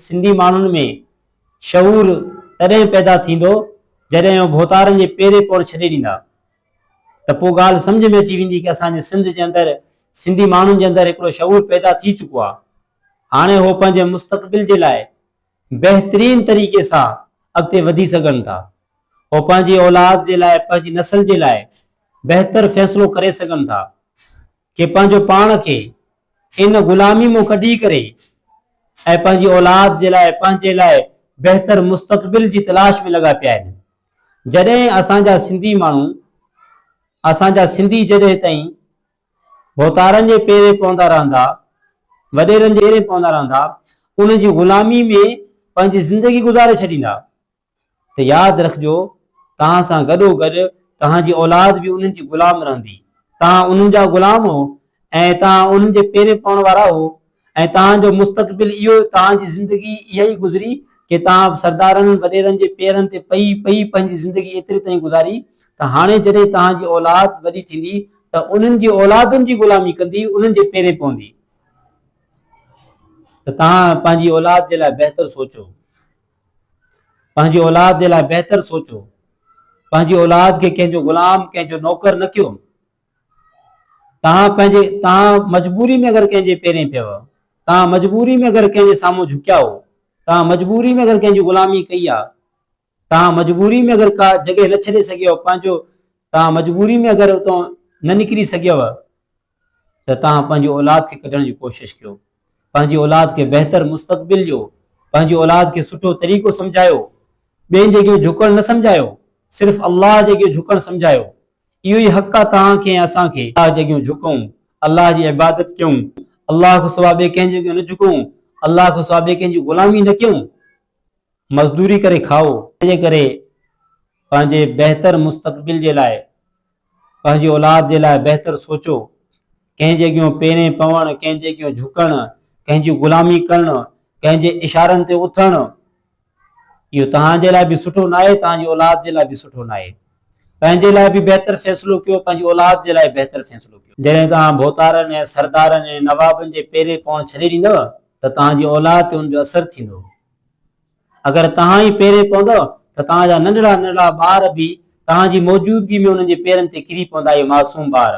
سنڌي ماڻهن ۾ شعور تڏهن پيدا ٿيندو جڏهن هو ڀوتارن جي پيري پوڻ ڇڏي ڏيندا ته پوء ڳالهه سمجهه ۾ اچي ويندي ڪه اسان جي سنڌ جي اندر سنڌي ماڻهن جي اندر هڪڙو شعور پيدا ٿي چڪو آ هاڻي هو پنهنجي مستقبل جي لاء بهترين طريقي سان اڳتي وڌي سگهن ٿا هو پنهنجي اولاد جي لاء پنهنجي نسل جي لاء بهتر فيصلو ڪري سگهن ٿا کي پنهنجو پاڻ کي ان غلامي مون ڪڍي ڪري ۽ پنهنجي اولاد جي لاء پنهنجي لاء بهتر مستقبل جي تلاش ۾ لڳا پيا آهن جڏهن اسان جا سنڌي ماڻهو اسان جا سنڌي جڏهن تائين ڀوتارن جي پيري پوندا رهندا وڏيرن جي پيري پوندا رهندا ان جي غلامي ۾ پنهنجي زندگي گذاري ڇڏيندا ته ياد رکجو توهان سان گڏو گڏ توهان جي اولاد به انهن جي غلام رهندي، توهان انهن جا غلام هو ۽ توهان انهن جي پيرين پوڻ وارا هو ۽ توهان جو مستقبل اهو توهان جي زندگي اها ئي گذري ڪي توهان سردارن وڏيرن جي پيرن تي پئي پئي پنهنجي زندگي ايتري تائين گذاري ته هاڻي جڏهن توهان جي اولاد وڏي ٿيندي ته انهن جي اولادن جي غلامي ڪندي انهن جي پيرين پوندي ته توهان پنهنجي اولاد جي لاء بهتر سوچو پنهنجي اولاد جي لاء بهتر سوچو. پنهنجي اولاد کي ڪنهن جو غلام، ڪنهن جو نوڪر نه ڪيو. توهان پنهنجي توهان مجبوري ۾ اگر ڪنهن جي پيرين پيو، توهان مجبوري ۾ اگر ڪنهن جي سامهون جهڪيا هو، توهان مجبوري ۾ اگر ڪنهن جي غلامي ڪئي آ، توهان مجبوري ۾ اگر ڪا جڳهه نه ڇڏي سگهيو، پنهنجو توهان مجبوري ۾ اگر اتان نه نڪري سگهيو، ته توهان پنهنجي اولاد کي ڪڍڻ جي ڪوشش ڪيو، پنهنجي اولاد کي بهتر مستقبل ڏيو، پنهنجي اولاد کي سٺو طريقو سمجهايو، ٻين جي اڳيان جهڪڻ نه سمجهايو، صرف الله جي اڳيان جهڪڻ سمجهايو، اهو ئي حق آهي توهان کي ۽ اسان کي. الله جي اڳيان جهڪون، الله جي عبادت ڪيون، الله کان سواء ٻئي ڪنهن جي اڳيان نه جهڪون، الله کان سواء ٻئي ڪنهن جي غلامي نه ڪيون، مزدوري ڪري کائو. ان جي ڪري پنهنجي بهتر مستقبل جي لاء پنهنجي اولاد جي لاء بهتر سوچو. ڪنهن جي اڳيون پيرين پوڻ، ڪنهن جي اڳيون جهڪڻ، ڪنهن جي غلامي ڪرڻ، ڪنهن جي اشارن تي اٿڻ، اهو توهان جي لاء به سٺو ناهي، توهان جي اولاد جي لاء به سٺو ناهي. پنهنجي لاء به بهتر فيصلو ڪيو، پنهنجي اولاد جي لاء بهتر فيصلو ڪيو. جڏهن توهان ڀوتارن ۽ سردارن ۽ نوابن جي پيرين پوڻ ڇڏي ڏيندؤ ته توهان جي اولاد تي ان جو اثر ٿيندو. اگر توهان ئي پيري پوندؤ ته توهان جا ننڍڙا ننڍڙا ٻار به توهان جي موجودگي ۾ انهن جي پيرن تي ڪري پوندا اهي معصوم ٻار.